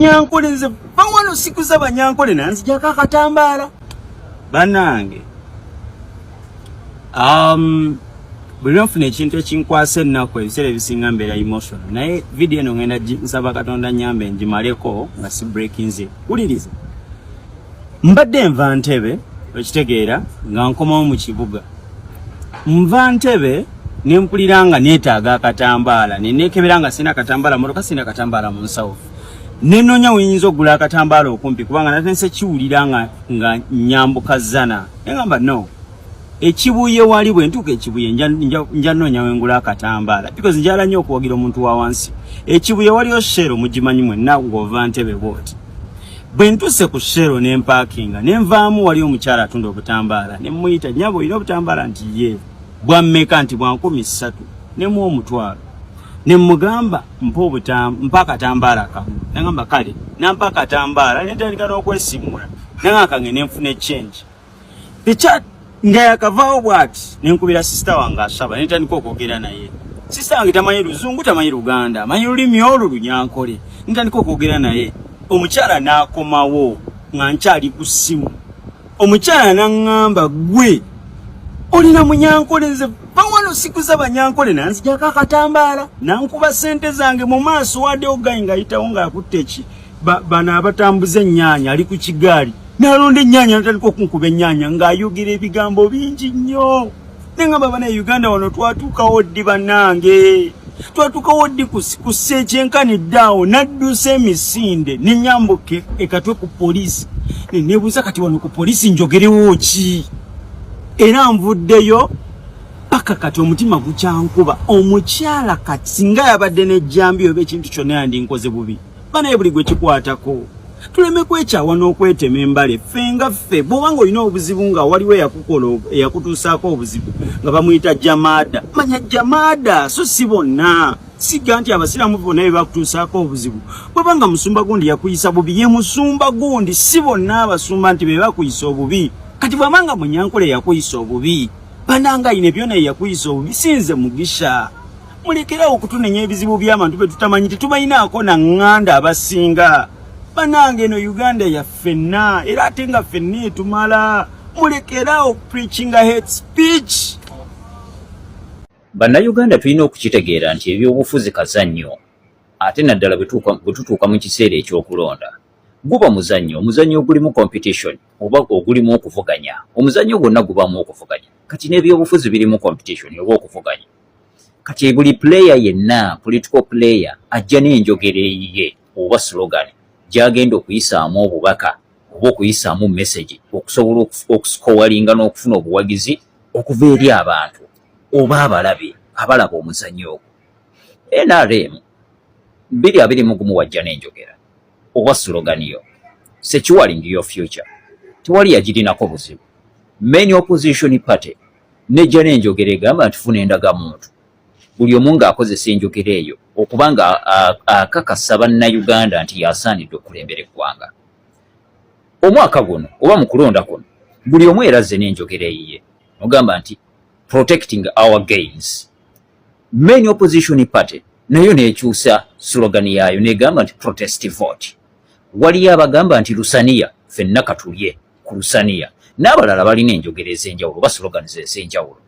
banyankole nze bawano sikuza banyankole nanzijako akatambaala banange um, buli lwenfuna ekintu ekinkwasa ennaku ebiseera ebisinga mbeera emotion naye vidiyo eno ngenda nsaba katonda nyambe ngimaleko nga si breakinze wuliriza mbadde nva ntebe okitegeera nga nkomawo mu kibuga nva ntebe nempulira nga neetaaga akatambaala nenekebera nga sina katambaala motoka sina katambaala mu nsawo nenonya weyinza okugula akatambaala okumpi kubanga nate nsekiwulira nga nga nyambuka zana engamba no ekibuye wali bwe ntuuka ekibuye nja nonya wengula akatambaala because njala nnyo okuwagira omuntu wa wansi ekibuye waliyo shero mugimanyi mwenna ng'ova ntebe bwoti bwe ntuse ku shero ne mpakinga ne nvaamu wali omukyala atunda obutambaala ne mmuyita nyabo olina obutambaala nti ye bwammeka nti bwankumi ssatu ne mu omutwalo ne mmugamba mpa obutam mpa akatambaala kamu nagamba kale nampa akatambaala netandika n'okwesimula nanga kange nenfuna echange picha nga yakavaawo bwati nenkubira sisita wange asaba netandika okwogera naye sisita wange tamanyi luzungu tamanyi luganda amanyi lulimi olwo lunyankole netandika okwogera naye omukyala n'akomawo nga nkyali ku ssimu omukyala naŋŋamba gwe olina munyankole nze bawano sikuza banyankole nanzijako akatambaala nankuba ssente zange mu maaso wade ogayi ngayitawo ng'akutte eki bano abatambuza ennyaanya ali ku kigaali nalonda ennyaanya natandika okunkuba ennyaanya ng'ayogera ebigambo bingi nnyo nengamba bana uganda wano twatuukawo ddi banange twatuukawo ddi kussa ekyenkani ddaawo naddusa emisinde nenyambuka ekatwe ku poliisi nenebuuza kati wano ku poliisi njogerewo ki era nvuddeyo paka kati omutima gukyankuba omukyala kati singa yabadde nejjambi oba ekintu kyonna yandinkoze bubi banaye buli gwe kikwatako tuleme kwekyawa n'okwetema embale ffe nga ffe bwoba nga olina obuzibu nga waliwo eyakukola eyakutuusaako obuzibu nga bamuyita jamaada manya jamaada so si bonna siga nti abasiraamu bonna be bakutuusaako obuzibu bwaba nga musumba gundi yakuyisa bubi ye musumba gundi si bonna abasumba nti be bakuyisa obubi kati bwaba nga munyankole yakuyisa obubi bananga ine byona yakuyisa obubi sinze mugisha mulekerawo okutunenya ebizibu byabantu betutamanyi tetubalinaako na ŋŋanda abasinga banange eno uganda yaffenna era ate nga ffenna etumala mulekerawo preachinga head speech bannayuganda tulina okukitegeera nti ebyobufuzi kazannyo ate naddala bwe tutuuka mu kiseera ekyokulonda guba muzannyo omuzannyo ogulimu competition oba ogulimu okuvuganya omuzannyo gwonna gubaamu okuvuganya kati n'ebyobufuzi birimu competition oba okuvuganya kati buli player yenna political player ajja n'enjogera eyiye oba slogan gyagenda okuyisaamu obubaka oba okuyisaamu message okusobola okusikowalinga n'okufuna obuwagizi okuva eri abantu oba abalabe abalaba omuzanyo ogwo nrm biri abiri mugumu wajja n'enjogera oba slogan yo securing your future tewali yagirinako buzibu main opposition party nejja n'enjogera egamba nti funa endagamuntu buli omu ng'akozesa enjogera eyo okuba nga akakasa bannayuganda nti yasaanidde okulembera eggwanga omwaka guno oba mu kulonda kuno buli omu erazze n'enjogera eyiye ogamba nti protecting our gains main opposition party nayo nekyusa slogan yaayo negamba nti protest vote waliyo abagamba nti lusaniya fenna katulye ku lusaniya n'abalala balina enjogera ez'enjawulo oba slogans ez'enjawulo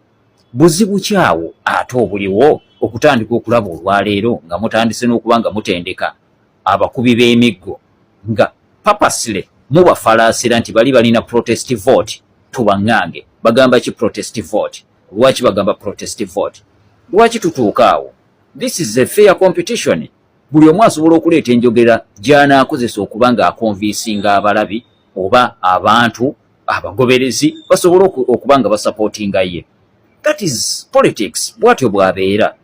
buzibu kyawo ate obuliwo okutandika okulaba olwaleero nga mutandise n'okuba nga mutendeka abakubi b'emiggo nga papasile mubafalaasira nti bali balina protest vote tubaŋŋange bagamba ki protest vote lwaki bagamba protest vote lwaki tutuuka awo this is a fair competition buli omu asobola okuleeta enjogera gy'anaakozesa okuba ng'akonviisinga abalabi oba abantu abagoberezi basobola okuba nga basapootinga ye that is politics bwatyo bwabeera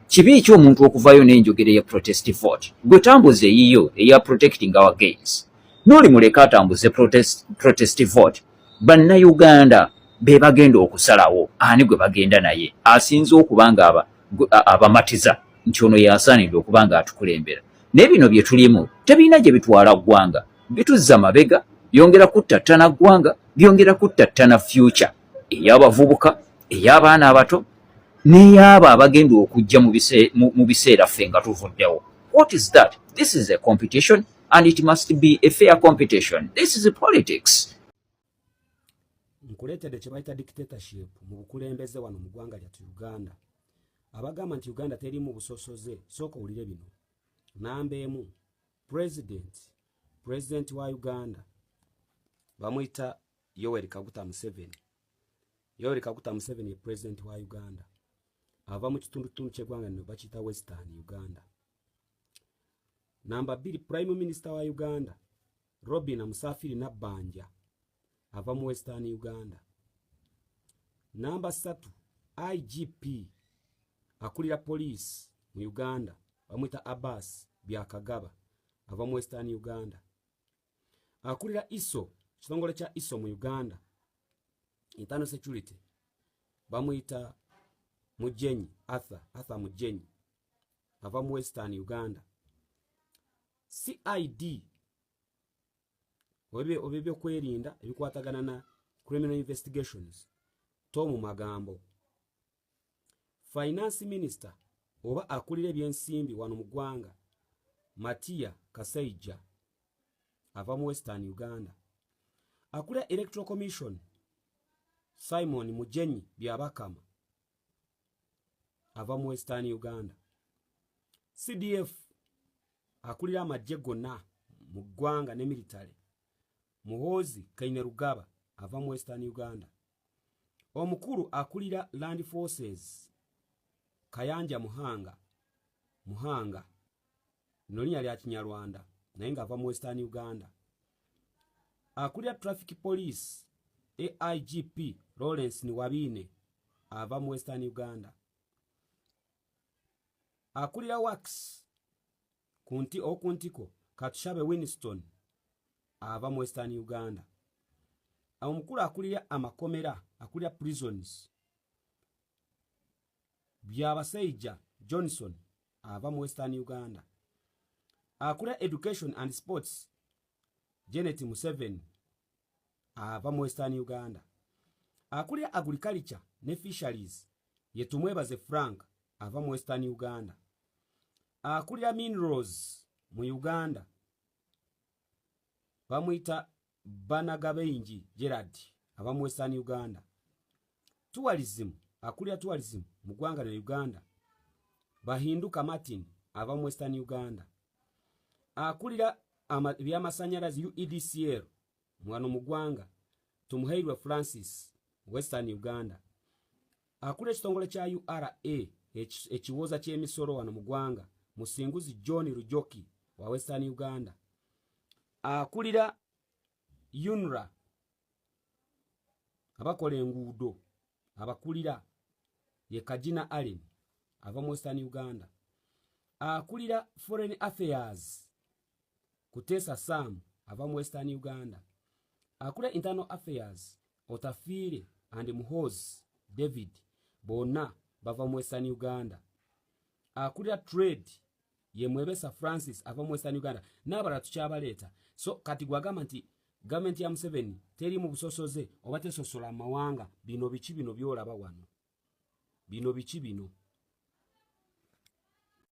kibi ki omuntu okuvayo n'enjogera eya protest vote gwe tambuza eyiyo eya protecting our gains noli muleka atambuze protest, protest vote bannayuganda be bagenda okusalawo ani gwe bagenda naye asinze okuba nga abamatiza aba nti ono yasaanidde okuba nga atukulembera naye bino bye tulimu tebirina gye bitwala ggwanga bituzza mabega byongera kuttattana ggwanga byongera kuttattana future ey'abavubuka ey'abaana abato n'ey'abo abagenda okujja mu biseera ffe nga tuvuddewo what is that this is a competition and it must be a fair competition this is politics nkuleetedde kye bayita dictatorship mu bukulembeze wano mu ggwanga lyattu uganda abagamba nti uganda terimu busosoze sooka owulire bino namba emu president president wa uganda bamuyita yoweri kaguta museveni yoweri kaguta museveni ye president wa uganda ava mu kitundutundu kyegwanga nino bakiyita western uganda namba bbiri prime minister wa uganda robina musafiri nabbanja ava mu western uganda namba satu igp akulira poliisi mu uganda bamwita abbas byakagaba ava mu western uganda akulira iso kitongole kya iso mu uganda internal security bamuyita mujenyi arthur arthur mujenyi ava mu western uganda cid oba ebyokwerinda ebikwatagana na criminal investigations to mu magambo finance minister oba akulira ebyensimbi wano mu ggwanga matiya kasaija ava mu western uganda akulira electoral commission simon mujenyi byabakama ava mu western uganda cdf akulira amajje gonna mu ggwanga ne military muhoozi kaine rugaba ava mu western uganda omukulu akulira land forces kayanja muhanga muhanga lino linya lya kinyarwanda naye nga ava mu western uganda akulira traffic police aigp lawrence niwabiine ava mu western uganda akulira wax kunti okuntiko katushabe winston ava mu western uganda omukulu akulira amakomera akulira prisons byabasaija johnson ava mu western uganda akula education and sports janet museven ava mu western uganda akulira agriculture ne fisheries yetumwebaze frank ava mu western uganda akulira minerals mu uganda bamuyita banagabenji gerard aba western uganda tourism akulira tourism mu ggwanga lya uganda bahinduka martin ava mu western uganda akulira ebyamasanyalazi uedcl mwano mu ggwanga tumuhairwe francis western uganda akulira ekitongole kya ura ekiwooza ky'emisolo wano mu ggwanga musinguzi john rujoki wa western uganda akulira unra abakola enguudo abakulira ye kagina allen ava mu western uganda akulira foreign affairs kuteesa sam ava mu western uganda akulira internal affairs otafiire and muhoz david bonna bava mu western uganda akulira trade ye mwebesa francis ava mu western uganda n'abalala tukyabaleeta so kati gwagamba nti gavumenti ya museveni teri mu busosoze oba tesosola amawanga bino biki bino byolaba wano bino biki bino